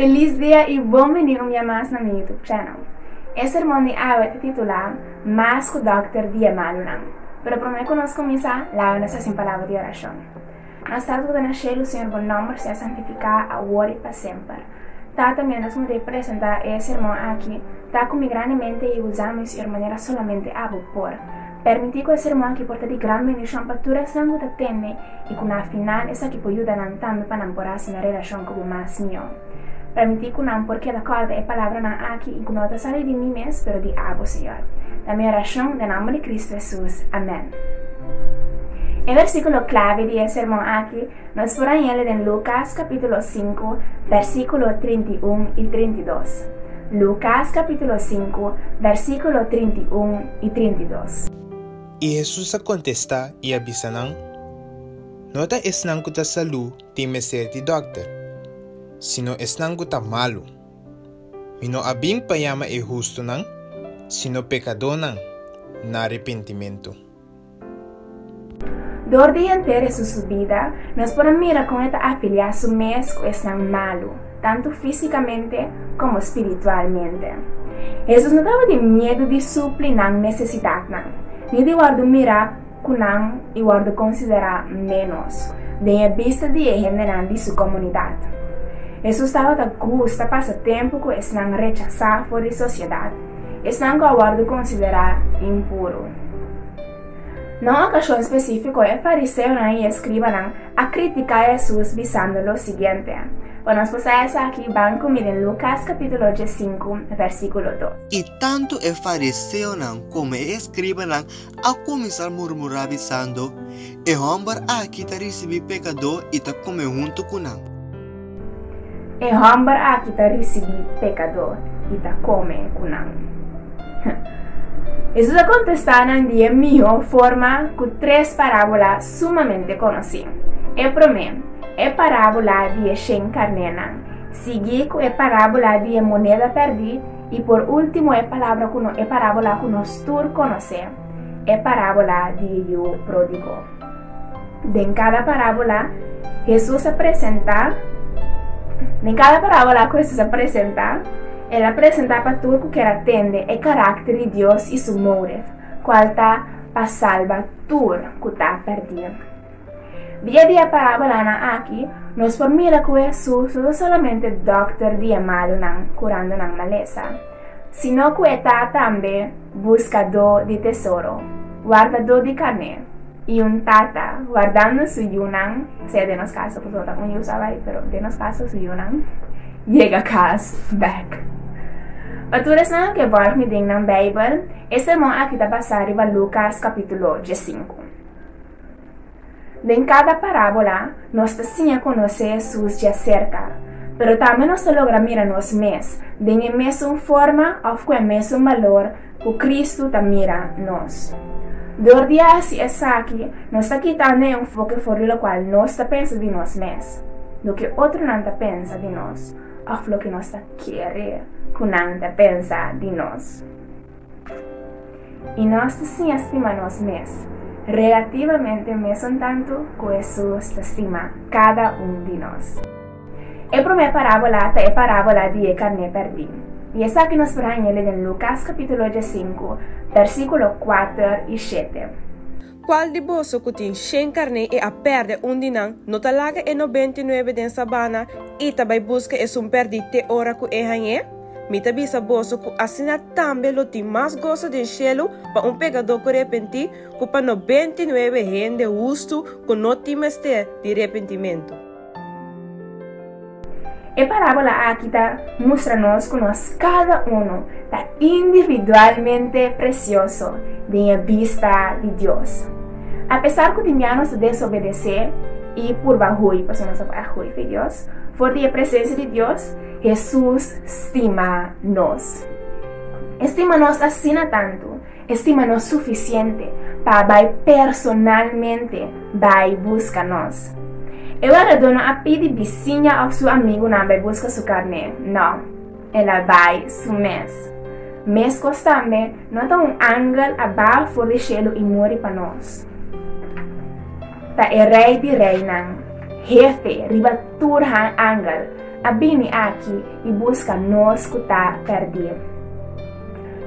Feliz dia i bon bini un bia mas na mi YouTube channel. E sermon di awe ta titulá Mas ku dòkter di e malunan. Pero promé ku nos kuminsá, laga nos hasi un palabra di orashon. Mas Tata ku ta na shelu, Señor, bo nòmber sea santifiká awor i pa semper. Tata, miéntras ku no ta e presentá e sermon aki, ta ku mi grandemente i usa mi, Señor, manera solamente abo por. Permití ku e sermon aki por ta di gran bendishon pa tur esnan ku ta tende i ku na final esaki por yuda nan tambe pa nan por hasi nan relashon Ku mas mió, permití ku nan por keda kòrda e palabranan aki i ku no ta sali di mi mes, pero di abo, Señor. Ta mi orashon den nomber di Kristu Hesus. Amèn. E versíkulo klave di e sermon aki nos por hañ'é den Lukas kapítulo sinku, versíkulo trinta i un i trinta i dos. Lukas kapítulo sinku, versíkulo trinta i un i trinta i dos. I Hesus a kontestá i a bisa nan, No ta esnan ku ta salú Tin mester di dòkter. Sino esnan ku ta malu. Mi no a bin pa yama e hustunan, sino pekadónan na arepentimentu. Dor di henter esun su bida, nos por a mira kon e ta afiliá su mes ku esnan malu, tantu físikamente komo spiritualmente. Hesus no tabata tin miedu di supli nan nesesidatnan, ni di wòrdu mirá ku nan i wòrdu konsiderá ménos den e bista di e hendenan di su komunidat. Hesus tabata gusta pasa tempu ku esnan rechasá for di sosiedat, esnan ku a wòrdu konsiderá impuru. Na un okashon spesífiko, e fariseonan i e skribanan a kritiká Hesus bisando lo siguiente, pa nos pasa esaki ban ku mi den Lukas kapítulo diesinku, vèrsíkulo dos. I tantu e fariseonan komo e skribanan a kuminsá murmurá bisando, E hòmber aki ta risibí pekadó i ta kume huntu ku nan. E hòmber aki ta risibí pekadó i ta kume ku nan. Hesus a kontestá nan di e mihó forma ku tres parábula sumamente konosí. E promé, e parábula di e shen karnénan, siguí ku e parábula di e moneda pèrdí, I por ultimo e palabra ku no e parábola ku nos tur konosé, e parábola di e yu pródigo. Den kada parábola Hesus a presentá Den kada parábola ku Hesus a presentá, el a presentá pa tur ku kier atende e karakter di Dios i su mouref, kual ta pa salba tur ku ta pèrdí. Di e di e parabolanan aki nos por mira ku Hesus no ta solamente dòkter di e malunan kurando nan malesa, sino ku e ta tambe buskadó di tesoro, wardadó di kan'é i un tata, wardando su yunan, sea den nos kaso pasobra ta un yu sa bai, pero den nos kaso su yunan, yega kas bèk. Pa tur esnan lo ke bòrg midin nan Beibel, e sermon aki ta basá riba Lukas kapítulo diesinku. Den kada parábola, nos ta siña konosé Jesús dja serka, pero tambe nos ta logra mira nos mes den e mesun forma òf ku e mesun balor ku Kristu ta mira nos. Dor di a hasi esaki, nos ta kitando e enfoke for di lokual nos ta pensa di nos mes, loke otronan ta pensa di nos òf loke nos ta kere ku nan ta pensa di nos. I nos ta siña stima nos mes, relativamente mesun tantu ku Hesus ta stima kada un di nos. E promé parábola ta e parábola di e karné pèrdí, i esaki nos por haña el den Lukas kapítulo dies sinku, bèrsikulo kuater i shete. Cual di boso cu tin shen carné y a perde un di nan, no ta laga e nobenta y nuebe den sabana y ta bay busca e sun perdi te ora cu e hañ'é? Mi ta bisa boso cu asina tambe lo tin mas goso den shelu pa un pecador cu repenti cu pa nobenta y nuebe hende hustu cu no tin mester di repentimento. E parábola aki ta mustra nos ku nos kada unu ta individualmente presioso den e bista di Dios. A pesar ku di mia nos ta desobedesé i purba hui, pasobra nos ta por a hui fe Dios, for di e presensia di Dios, Hesus stima nos. E stima nos asina tantu, E stima nos sufisiente pa a bai personalmente bai busca nos. E waradó no a pidi bisiña of su amigunan bai busca su carné, no, el a bai su mes. Mescos tambe, no ta un angel a baha for di shelu i muri pa nos. Ta e Rey di Reynan, Hefe riba tur han angel, a bini aki i busca nos cu ta perdí.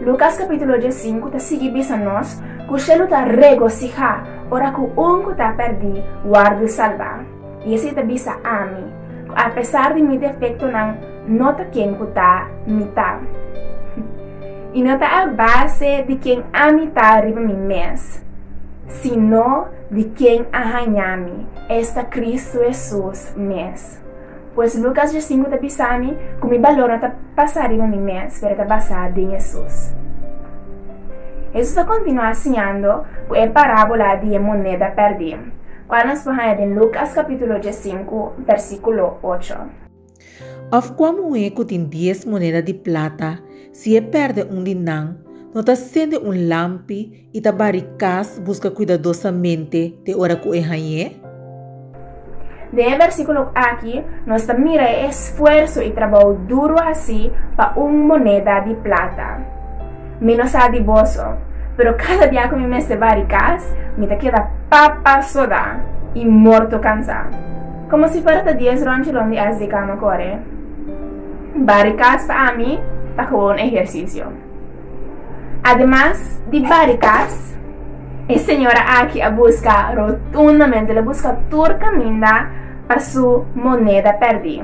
Lucas capítulo diesinku ta sigui bisa nos cu shelu ta regosihá ora cu un cu ta perdí worde salbá. I esei ta bisa ami, cu apesar di mi defectonan no ta ken cu ta mi ta. I no ta a base di ken ami ta riba mi mes, sino di ken a hañami, esta Cristo Hesus mes. Pues Lucas Jacinco ta bisa mi cu mi balor no ta basá riba mi mes, pero ta basá den Jesús. Jesús ta continuá siñando cu e parábola di e moneda perdí, cual nos por haña den Lucas capítulo diescinco, versículo ocho. Of cua muhé cu tin dies moneda di plata, si e perde un di nan, no ta sende un lampi i ta bari kas buska kuidadosamente te ora ku e hañ'é? Den e bersíkulo aki nos ta mira e esfuerso i trabou duru hasí pa un moneda di plata. Mi no sa di boso, pero kada bia ku mi mester bari kas, mi ta keda papa sodá i morto kansá. Komo si fuera ta dies ronchelon di as di kama kore. Bari kas pa ami ta komo un ehersisio. Ademas di barikas, e señora aki a busca rotundamente, le busca tur caminda pa su moneda perdí.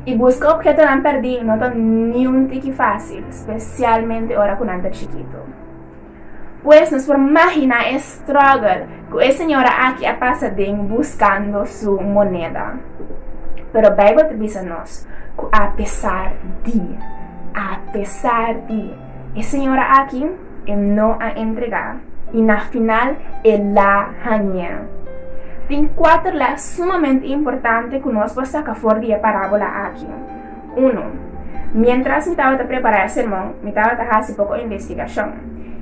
Y busca objetonan perdí no ta niun tiki fácil, specialmente ora cu nan ta chikito. Pues nos por magina e struggle Cu e señora aki a pasa den buscando su moneda. Pero Bijbel ta bisa nos cu a pesar di, a pesar di, e señora aki e no a entrega y na final e la hangea. Tin cuater les sumamente importante cu nos por saca for di e parabola aki. Unu, miéntras mi tabata prepará e sermon, mi tabata hasi poko investigashon,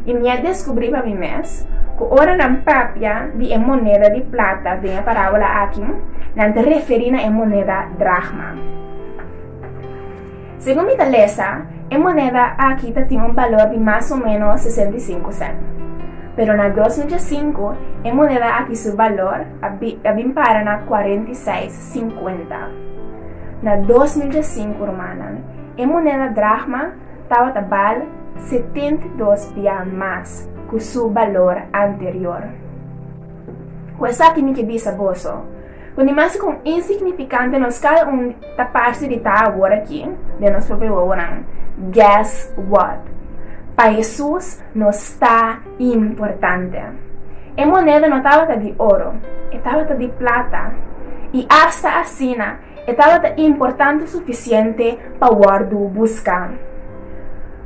i mi a deskubrí pa mi mes ku ora nan papia di e moneda di plata den e parábola akí, nan ta referí na e moneda drákma. Segun mi ta lesa, e moneda akí tatin un balor di mas o ménos sesenta i sinku sènt. Pero na dos mil diesinku, e moneda akí su balor a bin para na kuarenta i seis sinkuenta. Na dos mil djasinku, rumannan, e moneda drachma tabata bal setenta i dos bia mas ku su balor anterior. Ku esaki mi ke bisa boso ku ni mas kon insignifikante nos kada un ta parse di ta awor aki den nos propio wowonan, Guess what? Pa Hesus nos ta. Importante. E moneda no tabata di oro, e tabata di plata, i asta asina e tabata importante sufisiente pa wòrdu buska.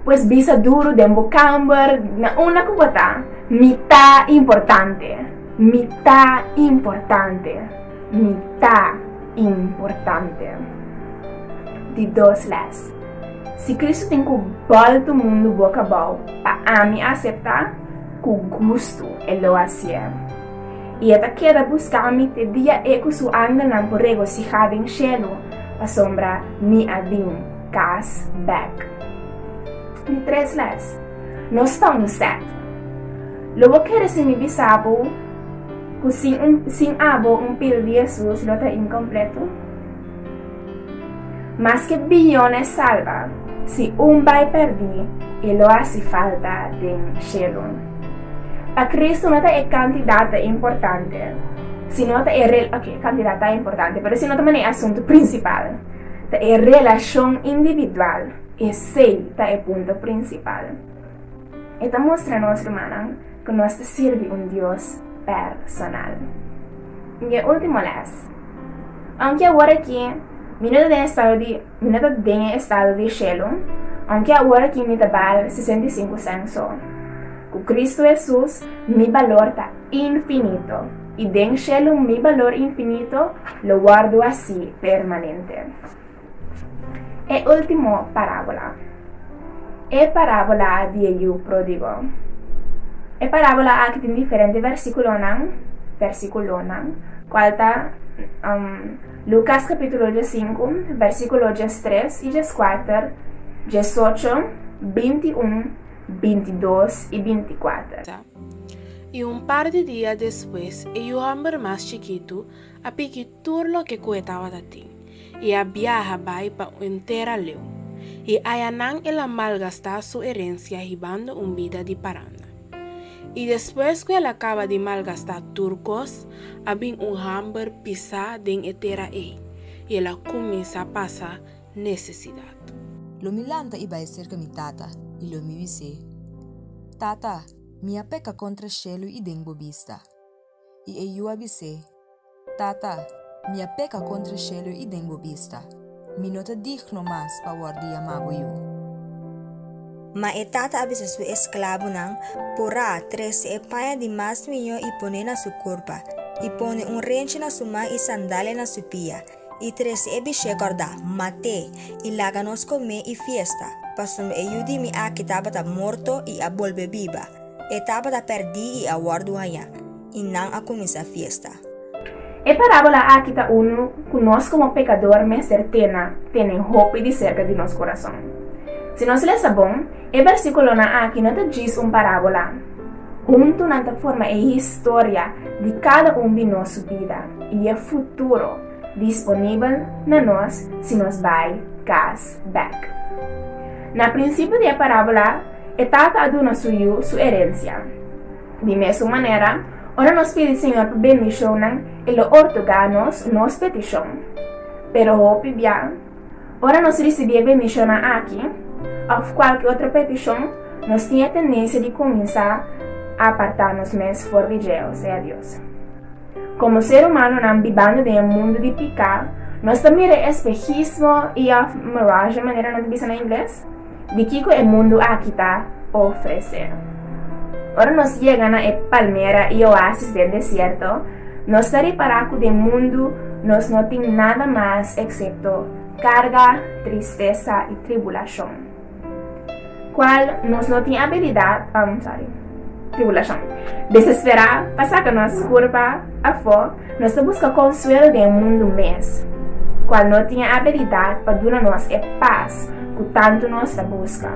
Pues bisa duru den bo kamber na unda ku bo ta, Mi ta importante, mi ta importante, mi ta importante. Di dos lès. Si Cristo tin cu balto mundo boca bao pa ami acepta, cu gusto e lo hacier. Y e ta keda buscami te dia e cu su angelnan por regocija den cielo, pasobra mi a bin cas bek. Di tres les, nos ta un set. Lo bo kere si mi bisa bo cu sin un sin abo un pil di Jesús lo ta incompleto? Maske billones salba, si un bai perdi, e lo hasi falta den shelu. Pa Kristu no ta e kantidat ta importante, sino ta e rel oke, kantidat ta importante, pero ese no ta mane e asuntu prinsipal. Ta e relashon individual, esei ta e punto prinsipal. E ta mustra nos rumannan ku nos ta sirbi un Dios personal. Mi e último lès. Aunke awor aki mi no ta den estado di mi no ta den e estado di shelu, aunke awor aki mi ta bal sesenta i sinku sèn so, ku Kristu Hesus mi balor ta infinito i den shelu mi balor infinito lo wòrdu hasi permanente. E ultimo parabola. E parabola di e yu prodigo. E parabola aki tin diferente versikulonan, versikulonan, kual ta um, Lukas kapitulo djes sinku, versikulo djes tres i djes kuater, djes ocho, binti un, binti dos i binti kuater. I un par di dia despues e yu hòmber mas chikitu a piki tur loke ku e tabata tin. i a biaha bai pa un tera leu, i ayanan el a malgastá su erensia hibando un bida di paranda. I despues ku el a kaba di malgastá tur kos, a bin un hamber pisá den e tera ei, i el a kuminsá pasa nesesidat. Lo mi lanta i bai serka mi tata, i lo mi bis'é, Tata, mi a peka kontra shelu i den bo bista. i e yu a bis'é, Tata, mi a peka kontra shelu i den bo bista. Mi no ta digno mas pa wòrdu di yamá bo yu. Ma e tata a bisa su esklabunan, Purá, trese e paña di mas miñó i pon'é na su kurpa, i pone un renchi na su man i sandalia na su pia. I trese e bishé kòrdá, Mat'é, i laga nos komé i fiesta, pasobra e yu di mi aki tabata morto i a bolbe biba, e tabata pèrdí i a wòrdu hañá. I nan a kuminsá fiesta. E parábola aki ta unu ku nos komo pekador mester tena tene hopi di serka di nos kurason. Si nos lesa bon, e bèrsikulonan aki no ta djis un parábola. Huntu nan ta forma e historia di kada un di nos bida. i e futuro disponibel na nos si nos bai kas bèk. Na prinsipio di e parábola, e tata a duna su yu su erensia. Di mesun manera, ora nos pidi Señor pa bendishonnan, e lo ortogá nos nos petishon. Pero hopi bia, Ora nos risibí e bendishonnan aki òf kualke otro petishon, nos tin e tendensia di kuminsá apartá nos mes for di Jehoa, sea Dios. Komo ser umanonan bibando den e mundu di piká, nos ta mira e espehismo i òf mirage manera nan ta bisa na ingles. di kiko e mundu aki ta ofresé. Ora nos yega na e palmera i oasis den desierto, nos ta repará ku den mundu nos no tin nada mas eksepto karga, tristesa i tribulashon. Kual nos no tin abilidat pa. tribulashon. Desesperá pa saka nos kurpa afó, nos ta buska konsuelo den e mundu mes, kual no tin e abilidat pa duna nos e pas ku tantu nos ta buska.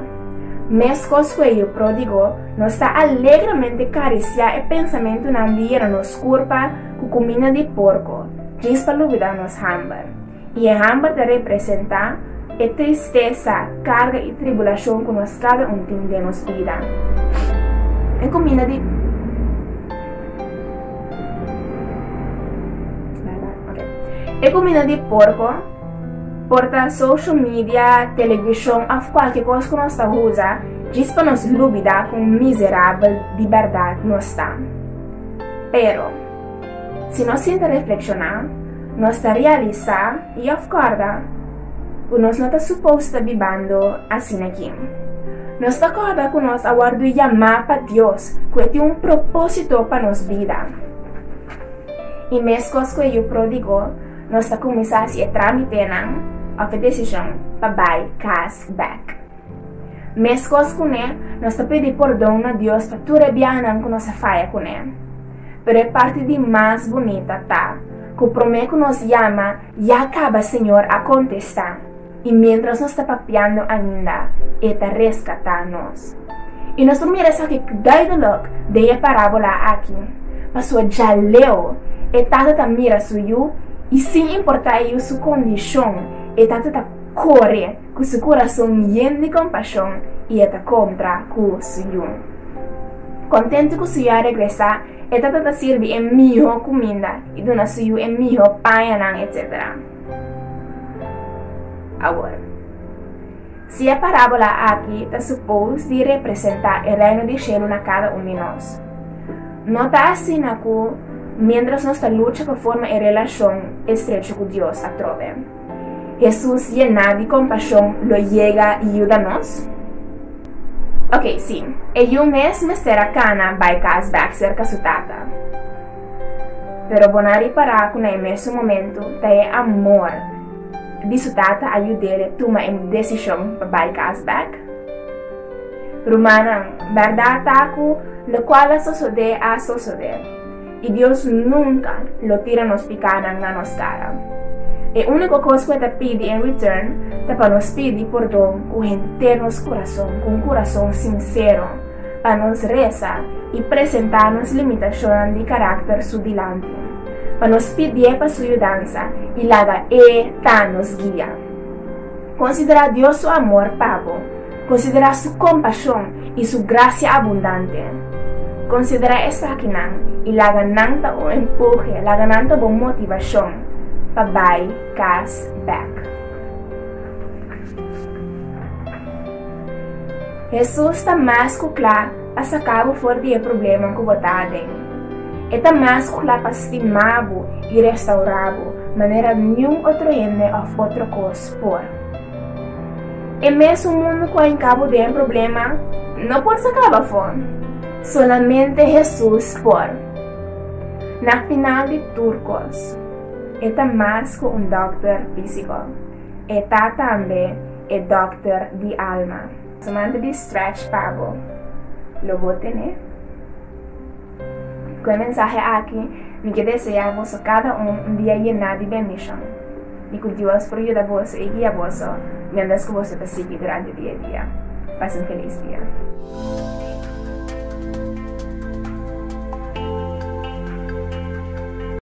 Meskos ku e yu pródigo, nos ta alegramente karisiá e pensamentunan di yena nos kurpa ku kuminda di porko, djis pa lubidá nos hamber. I e hamber ta representá e tristesa, karga i tribulashon ku nos kada un tin den nos bida. E kuminda di E kuminda di porko por ta social media, televishon òf kualke kos ku nos ta usa djis pa nos lubidá kon mizerabel di bèrdat nos ta. Pero. Si nos sinta reflekshoná, nos ta realisá i afkòrda ku nos no ta supos ta bibando asina kin. Nos ta kòrda ku nos a wòrdu yamá pa Dios, ku e tin un propósito pa nos bida. I meskos ku e yu pródigo, nos ta kuminsá hasi e trámitenan òf e desishon pa bai kas bèk. Meskos kuné, nos ta pidi pordon na Dios pa tur e biahanan ku nos a faya kuné. Pero e parti di mas bunita ta ku promé ku nos yama ya kaba Señor a kontestá, i miéntras nos ta papiando ainda e ta reskatá nos. I nos por mira esaki duidelik den e parábola aki, pasobra dja leu e tata ta mira su yu i sin importá e yu su kondishon, e tata ta kore. ku su kurason yen di kompashon i e ta kontra ku su yu. Kontentu ku su yu a regresá, e ta ta ta sirbi e mihó kuminda i duna su yu e mihó pañanan, etsétera. Awor, si e parábola akí ta supos di representá e Reino di shelu na kada un di nos, no ta asina ku miéntras nos ta lucha pa forma e relashon estrecho ku Dios atrobe? Hesus yená di kompashon lo yega i yuda nos? Oke, sí, e yu mes mester a kana bai kas bèk serka su tata. Pero bo na ripará ku na e mesun momentu ta e amor di su tata a yud'el tuma e desishon pa bai kas bèk? Rumannan, bèrdat ta ku lokual a sosodé a sosodé. I Dios nunka lo tira nos pikanan na nos kara. E úniko kos ku e ta pidi en return ta pa nos pidi pordon ku henter nos kurason, ku un kurason sinsero, pa nos resa i presentá nos limitashonnan di karakter Su dilanti, pa nos pidié pa Su yudansa i laga E ta nos guia. Konsiderá Dios Su amor pa bo. Konsiderá Su kompashon i Su grasia abundante. Konsiderá esakinan i laga nan ta bo empohe, laga nan ta bo motivashon pa bai kas bèk. Hesus ta mas ku kla pa saka bo for di e problema ku bo ta aden. E ta mas ku kla pa stima bo i restaurá bo manera niun otro hende òf otro kos por. E mesun mundu ku a enkabu den problema no por saka bafon. Solamente Hesus por. Na final di tur kos, e ta mas ku un dòkter fisiko. E ta tambe e dòkter di alma. Su manta di stretch pa bo lo bo tene. Ku e mensahe aki mi ke desea boso kada un un dia yená di bendishon i ku Dios por yuda boso i guia boso miéntras ku boso ta sigui durante di e dia. Pas en felis dia.